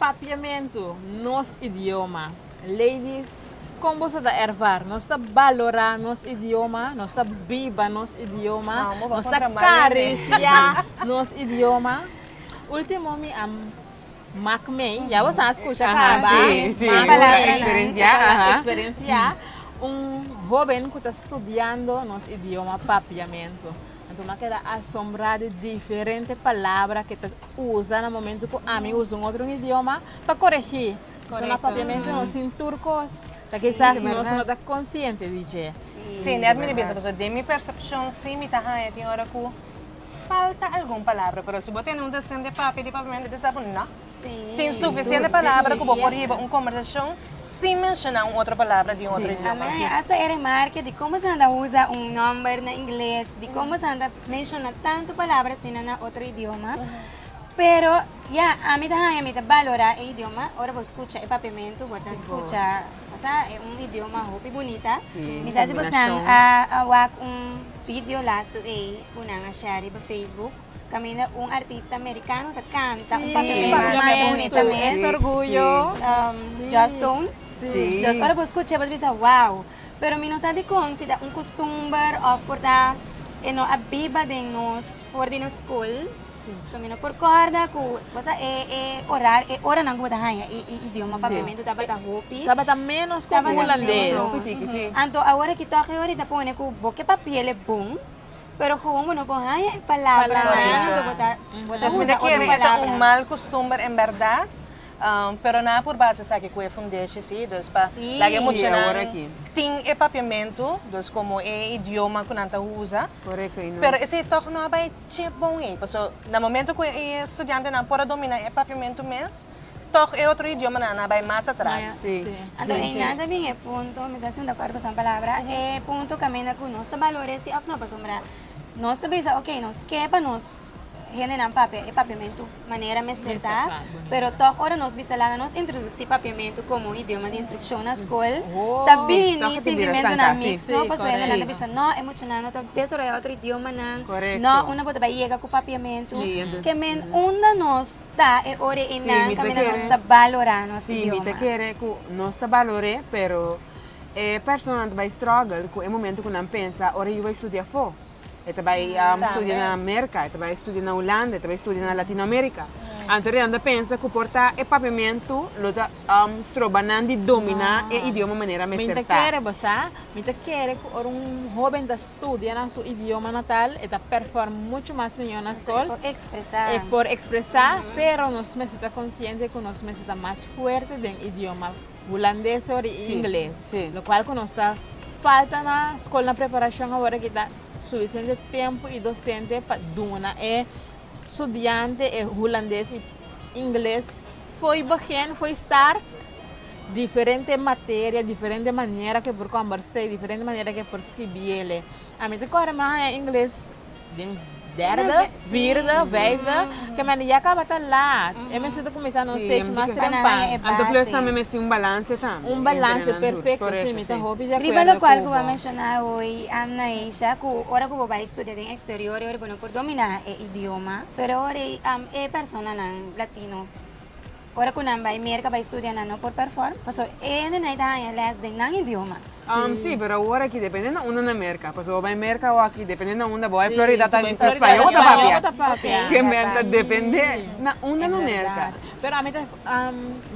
Papiamentu nos idioma. Ladies, kon bo sa ta ervara? Nos ta balorá nos idioma? Nos ta biba nos idioma? Nos ta karisiá nos idioma? Último mi a mak mee, ya bo sa a skucha kaba, eksperensiá un hóben ku ta studiando nos idioma, Papiamentu. Anto mi a keda asombrá di diferente palabra ke ta usa na momentu ku ami usa un otro idioma pa koregí. Korekto. Na papiamentu nos tin tur kos, ta kisas nos no ta konsiente di dje. Sí, net mi di bisa boso, den mi persepshon sí mi ta haña tin ora ku falta algun palabra, pero si bo tene un desente papia di papiamentu, bisa bo, no. Tin sufisiente palabra ku bo por hiba un kombersashon sin menshoná un otro palabra di un otro idioma. Amai, asta e remarke di komo esnan ta usa un nòmber na ingles, di komo esnan ta menshoná tantu palabra asina na otro idioma. Pero, ya, ami ta haña mi ta balorá e idioma ora bo skucha e papiamentu, bo ta skucha, osea, e un idioma hopi bunita. Mi sa si bo esnan a wak un vidio lasu ei ku nan a share riba facebook. Camina un artista americano ta canta un papel sí, papel más bonito mes orgullo um, sí. Joss Stone sí. dus ora por escucha por bisa wow pero mi no sa di con si da un costumber of por ta e no a biba den nos for di nos school sí. so mi no por corda cu cosa e e orar e ora nan como ta haya e, e idioma papiamento sí. tabata hopi tabata menos con holandés sí. sí. anto ahora ki toque ahorita pone cu boke papiele bon Pero komo bo no por haña e palabranan, anto bo ta usa otro palabranan. Mal kustumber en bèrdat, pero nan a por basa esaki ku e fundeshi si, dus pa laga e muchanan tin e papiamentu, dus komo e idioma ku nan ta usa, pero esei tòg no a bai chep bon ei, pasobra na momento ku e studiantenan por a domina e papiamentu mes, Tog e otro idiomanan a bai mas atras. Sí, sí. Anto e nan ta bin e punto, mi ta siempre de acuerdo cu esnan palabra, e punto caminda cu nos ta valore si of no pasobra nos ta bisa ok nos ke pa nos hendenan papia e papiamentu manera mester ta, pero tog ora nos bisa laga nos introduci papiamentu como idioma di instruccion na scol ta bini sintimentonan mixto pasobra hendenan ta bisa no e muchanan no ta desarroya otro idiomanan, no unda bo ta bai yega cu papiamentu, ke men unda nos. Ta e ora e nan kaminda nos ta balorá nos idioma. Sí, mi ta kere ku nos ta balor'é, pero e personanan ta bai struggle ku e momentu ku nan pensa ora yu bai studia afó. E ta bai studia na Merka, e ta bai studia na Hulanda, e ta bai studia na Latinoamerika. Anto riba nan ta pensa ku por ta e papiamentu lo ta. stroba nan di dominá e idioma manera mester ta. Mi ta kere basá, mi ta kere ku ora un hóben ta studia na su idioma natal e ta perform muchu mas mihó na skol, e por ekspresá, pero nos mester ta konsiente ku nos mester ta mas fuerte den idioma hulandes ori i ingles, lokual ku nos ta falta na skol na preparashon awor aki ta suficiente tempu i dosente pa duna e Studiante e hulandes y ingles fo'i begin, fo'i start, diferente materia, diferente manera ke por kombers'é y diferente manera ke por skribiele. A mi ta kore mi haña ingles den derde, vierde, vijfde, ke mende ya kaba ta laat, e mester ta kuminsá na un stage mas trempan. Anto plus tambe mester un balanse tambe. Un balanse, perfecto, si, mi ta hopi de acuerdo cu bo. Riba locual cu bo a menciona hoy, Amna, Eisha, cu ora cu bo bai studia den exterior, por dominá e idioma, pero ora e personanan latino ora ku nan bai Merka bai studia nan no por perform paso e hendenan ta haña lès den nan idioma. Sí, pero awor aki depende na unda na Merka, paso bo bai Merka o aki depende na unda bo bai Florida ta spañol bo ta papia, ke men ta depende na unda na Merka. Pero ami ta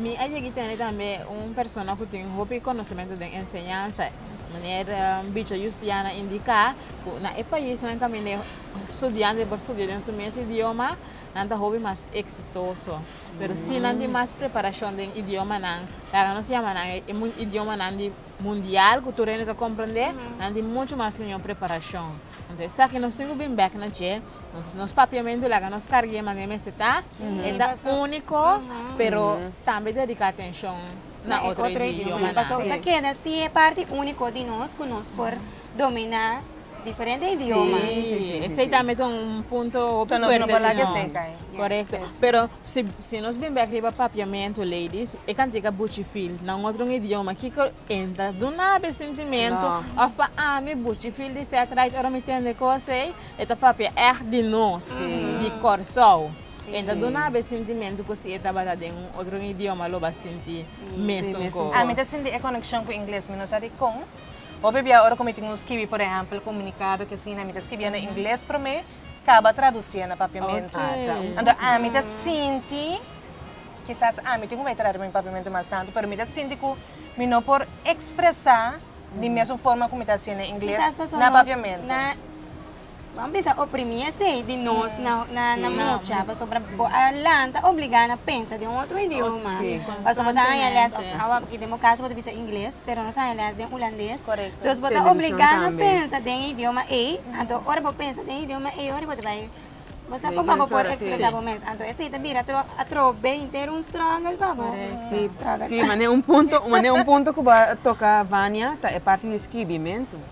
mi a yegi tene tambe un persona ku tin hopi konosementu den enseñansa, meneer Bicho Yustiana Indiká. Cu na e paisnan camin'e studiantenan por studia den su mes idioma, nan ta hopi mas exitoso. Pero si nan tin mas preparacion den idiomanan, laga nos yama nan e idiomanan di mundial, cu tur hende ta comprende, nan tin mucho mas miyor preparacion. Entonces, esaki nos tin cu bin bek na dje, nos, nos papiamentu laga nos carg'e manera mester ta, e ta unico, pero tambe dedica atencion na otro idioma. Pasobra ta keda si e parti unico di nos, cu nos por. domina diferente idioma. Sí, sí, sí, sí, esei sí. tambe ta un punto hopi Entonces, nos no fuerte por di laga nos. seca, eh. Yes, Correcto. yes. Pero si, si nos bin bek riba papiamento, ladies, e kantika buchi feel na un otro idioma, kiko en ta duna be sintimento No. of pa ami buchi feel di set right ora mi tende kos ei, e ta papia ègt di nos, Sí. di Kòrsou. Sí. En ta Sí. duna be sintimento ku si e tabata den un otro idioma lo ba sinti Sí. Sí, mesun mesun kos. kos. Ami ta sinti e konekshon ku ingles, mi no sa dikon. Hopi bia ora ku mi tin un skibi, por ehèmpel, komunikado aki asina, mi ta skibié na ingles promé, kaba tradusié na Papiamentu. Anto ami ta sinti, kisas ami tin ku bai trata pa mi Papiamentu mas santu, pero mi ta sinti ku mi no por ekspresá di mesun forma ku mi ta hasié na ingles na Papiamentu. Bo a bisa oprimí esei di nos na mucha pasobra bo a lanta obligá na pensa den un otro idioma. Pasobra bo ta haña lès, awa aki den bo kaso bo ta bisa ingles, pero nos a haña lès den hulandes. Dus bo ta obligá na pensa den e idioma ei, anto ora bo pensa den e idioma ei ora bo ta bai, bo sa kuma bo por ekspresá bo mes. Anto esei ta bira atrobe henter un struggle pa bo. Struggle. Sí, mane un punto, mane un punto ku bo a toka Vania ta e parti di skibimentu.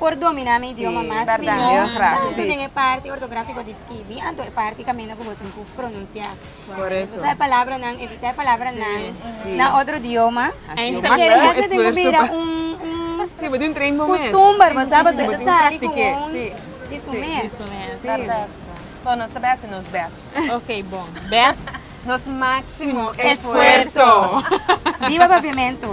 Por domina mi idioma mas mihó, tantu den e parti ortográfiko di skibi anto e parti kaminda ku bo tin ku pronunsiá. Bo sa e palabranan, evitá e palabranan na otro idioma. Ta kere bo tin ku bira un kustumber, bo sa, pasobra e ta sali ku un di su mes. Kòrda nos ta bai hasi nos bèst. Ok, bon. Bèst. Nos máksimo esfuerso. Biba Paviamentu!